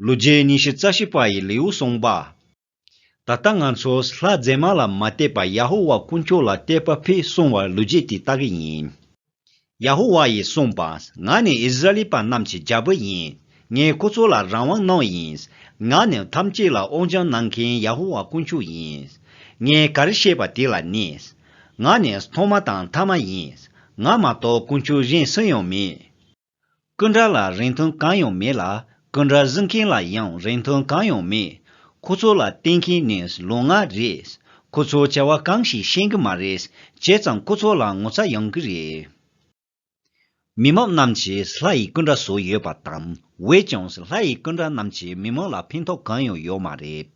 ལོ་རྒྱུས་ཉི་ཤུ་རྩ་བཞི་པ་ཡི་ལེའུ་གསུངས་པ། ད་ལྟ་ང་ཚོས་ལྷ་རྫས་མ་ལ་མ་བལྟས་པར་ཡ་ཧོ་ཝཱ་དཀོན་མཆོག་ལ་བལྟས་པ་ཕུད་གསུངས་བར་ལོ་རྒྱུས་དེ་ལྟ་གི་ཡིན། ཡ་ཧོ་ཝཱ་ཡིས་གསུངས་པ། ང་ནི་ཨིས་ར་ཨེལ་པ་རྣམས་ཀྱི་རྒྱལ་པོ་ཡིན། ངས་ཁོ་ཚོ་ལ་རང་དབང་གནང་བ་ཡིན། ང་ནི་ཐམས་ཅད་ལ་དབང་སྦྱང་གནང་མཁན་ཡ་ཧོ་ཝཱ་དཀོན་མཆོག་ཡིན། ངས་ག་རེ་བཤད་པ་དེ་ལ་ནི། ང་ནི་ཐོག་མ་དང་མཐའ་མ་ཡིན། ང་མ་གཏོགས་དཀོན་མཆོག་གཞན་སུ་ཡང་མེད། སྐུ་འདྲ་ལ་རིན་ཐུང་གང་ཡང་མེད་ལ་སྐུ་འདྲ་བཟོ་མཁན་ལ་ཡང་རིན་ཐུང་གང་ཡང་མེད། ཁོ་ཚོ་ལ་བསྟེན་མཁན་ནི་ལོ་ང་རེད། ཁོ་ཚོའི་བྱ་བ་གང་ཞིག་ཤེས་ཀྱི་མ་རེད། བྱས་ཙང་ཁོ་ཚོ་ལ་ངོ་ཚ་ཡོང་གི་རེད། མི་མང་རྣམས་ཀྱིས་ལྷ་ཡི་སྐུ་འདྲ་བཟོ་ཡོད་པ་དང་འོས་ཀྱང་ལྷ་ཡི་སྐུ་འདྲ་རྣམས་ཀྱིས་མི་མང་ལ་ཕན་ཐོགས་གང་ཡང་ཡོད་མ་རེད།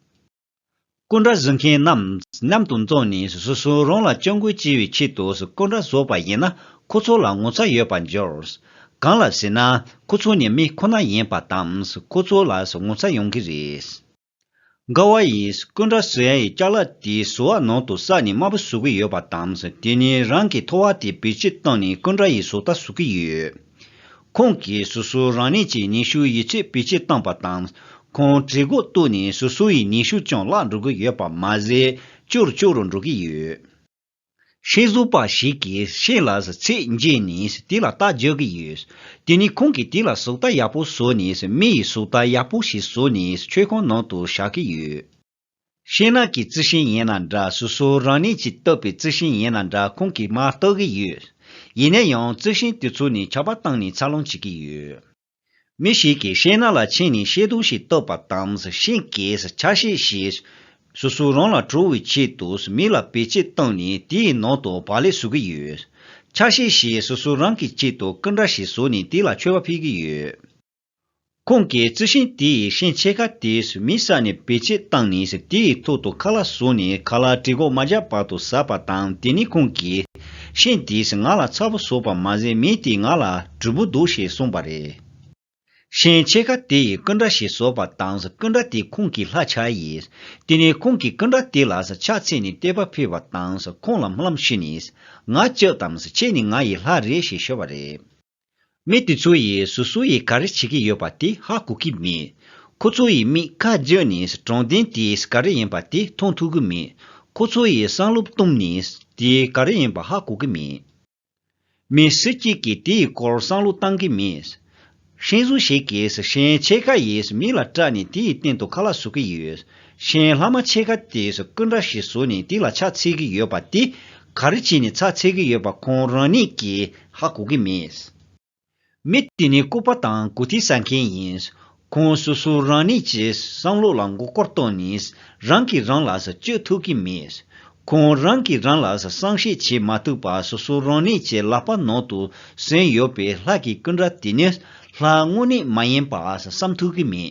སྐུ་འདྲ་བཟོ་མཁན་རྣམས་མཉམ་དུ་འཛོམས་ནས་སོ་སོའི་རང་ལ་སྤྱོད་འགོ་ལྕི་བའི་ཆེད་དུ་སྐུ་འདྲ་བཟོ་བ་ཡིན་ན་ཁོ་ཚོ་ལ་ངོ་ཚ་ཡོད་པར་འགྱུར། གང་ལ་ཟེར་ན་ཁོ་ཚོ་ནི་མི་ཁོ་ན་ཡིན་པ་དང་ཁོ་ཚོ་ལ་ངོ་ཚ་ཡོང་གི་རེད། འགའ་བ་ཡིས་སྐུ་འདྲ་བཟོ་ཡའི་ལྕགས་ལ་དེ་བཟོ་བ་ནང་དུ་བསགས་ནས་དམར་པོ་བཟོ་གི་ཡོད་པ་དང་དེ་ནས་རང་གི་ཐོ་བ་དེ་བེད་སྤྱོད་བཏང་ནས་སྐུ་འདྲ་ཡི་བཟོ་ལྟ་བཟོ་གི་ཡོད། ཁོང་གིས་སོ་སོ་རང་ཉིད་ཀྱི་ཉི་ཤུའི་ཡིད་ཆེས་བེད་སྤྱད་བཏང་པ་དང། ཁོང་གྲལ་སྒོ་གཏུགས་ནས་སོ་སོ་ཡི་ཉི་ཤུ་ཅུང་བརླག་འགྲོ་གི་ཡོད་པ་མ་ཟད་ཅོར་ཅོར་རུ་འགྲོ་གི་ཡོད། ཤེས་བཟོ་པ་ཞིག་གིས་ཤེས་ལ་ཚད་འཇལ་ནས་དེ་ལ་རྟགས་འཇོག་གི་ཡོད། དེ་ནི་ཁོང་གིས་དེ་ལ་ཟུག་རྟ་ཡག་པོ་བཟོ་ནས་མི་ཡི་ཟུག་རྟ་ཡག་པོ་ཞིག་བཟོ་ནས་མཆོད་ཁང་ནང་དུ་བཞག་གི་ཡོད། ཤེས་ནག་གི་རྩི་ཤིང་ཡིན་ན་འདྲ་སོ་སོ་རང་ཉིད་ཀྱིས་བཏབ་པའི་རྩི་ཤིང་ཡིན་ན་འདྲ་ཁོང་གིས་མ་བརྟག་གི་ཡོད། ཡིན་ན་ཡང་རྩི་ཤིང་དེ་ཚོ་ནི་ཁྱབ་པ་བཏང་ནས་འཚར་ལོངས་བྱེད་ཀྱི་ཡོད། མི་ཞིག་གིས་ཤེས་ནག་ལ་ཕྱིན་ནས་ཤེས་རྡུང་ཞིག་བཏབ་པ་དང་ཤིང་གིས་ཆ་ཤས་ཤིག་སོ་སོ་རང་ལ་དྲོ་བའི་ཆེད་དུ་མི་ལ་བེད་སྤྱད་བཏང་ནས་དེའི་ནང་དུ་བག་ལེབ་བཟོ་གི་ཡོད། ཆ་ཤས་ཤིག་སོ་སོ་རང་གི་ཆེད་དུ་ཀི་འདྲ་ཞིག་བཟོ་ནས་དེ་ལ་མཆོད་པ་ཕུལ་གྱི་ཡོད། ཁོང་གིས་རྩི་ཤིང་དེ་ཡི་ཤིང་ཕྱེད་ཀ་དེས་སུ་མི་ཟ་ནས་བེད་སྤྱད་བཏང་ནས་དེ་ཡི་ཐོག་ཏུ་ཁ་ལག་བཟུང་ནས་ཁ་ལག་གྲི་གོག་མ་བརྒྱབ་བར་དུ་ཟ་བ་དང་དེ་ནི་ཁོང་གིས། ཤིང་དེས་ང་ལ་ཚ་བོ་བཟོ་བ་མ་ཟད་མི་དེས་ང་ལ་དྲོད་པོ་འདུག་ཞེས་གསུངས་པ་རེད། ཤིང་ཕྱེད་ཀ་དེ་ཡིས་ཀུན་དགའ་ཞིག་བཟོ་བ་དང་ཀུན་དགའ་དེས་ཁོང་གི་ལྷ་ཆགས་ཡིན། དེ་ནས་ཁོང་གིས་ཀུན་དགའ་དེ་ལ་ཕྱག་འཚལ་ནས་བསྟོད་པ་ཕུལ་བ་དང་ཁོང་ལ་སྨོན་ལམ་ཞུས་ནས། ང་སྐྱབས་དང་ཁྱེད་ནི་ང་ཡི་ལྷ་རེད་ཞེས་ཞུ་བ་རེད། མི་དེ་ཚོ་ཡིས་སུ་སུ་ཡིས་ག་རེ་བྱེད་ཀྱི་ཡོད་པ་དེ་ཧ་གོ་གི་མེད། ཁོ་ཚོ་ཡི་མིག་ཁ་བརྒྱུད་ནས་དྲང་བདེན་དེ་ག་རེ་ཡིན་པ་དེ་མཐོང་ཐུབ་གི་མེད། ཁོ་ཚོ་ཡི་སྲང་ལོབས་བཏུམ་ནས་དེ་ག་རེ་ཡིན་པ་ཧ་གོ་གི་མེད། མི་སུ་གཅིག་གིས་དེ་ཡི་སྐོར་སྲང་ལོ་བཏང་གི་མེད། ཧྲེང་ཟུང་ཞིག་གིས་ཧྲེང་ཆེ་ཁ་ཡི་མིག་ལ་སྐྲག་ནས་དེ་ཡི་སྟེང་དུ་ཁ་ལག་ཟུག་གི་ཡོད། གཞན་ལྷག་མ་ཕྱེད་ཀ་དེས་སུ་ཀུན་འདྲ་ཞིག་བཟོ་ནས་འདི་ལ་ཕྱག་འཚལ་གྱི་ཡོད་པ་དེ་ག་རེ་བྱས་ནས་ཕྱག་འཚལ་གྱི་ཡོད་པ་ཁོང་རང་ཉིད་ཀྱིས་ཧ་གོ་གི་མེད། མི་དེ་ནི་ལྐུགས་པ་དང་གུ་ཐིག་ཟ་མཁན་ཡིན། ཁོང་སོ་སོ་རང་ཉིད་ཀྱི་བསམ་བློ་ལ་མགོ་སྐོར་གཏོང་ནས་རང་གིས་རང་ལ་དཔྱོད་ཐུབ་ཀྱི་མེད། ཁོང་རང་གིས་རང་ལ་བསམ་ཤེས་བྱེད་མ་ཐུབ་པར་སོ་སོ་རང་ཉིད་ཀྱི་ལག་པ་ནང་དུ་ཟིན་ཡོད་པའི་ལྷ་གི་ཀུན་འདྲ་དེ་ནི་ལྷ་དངོས་གནས་མ་ཡིན་པར་བསམ་ཐུབ་ཀྱི་མེད།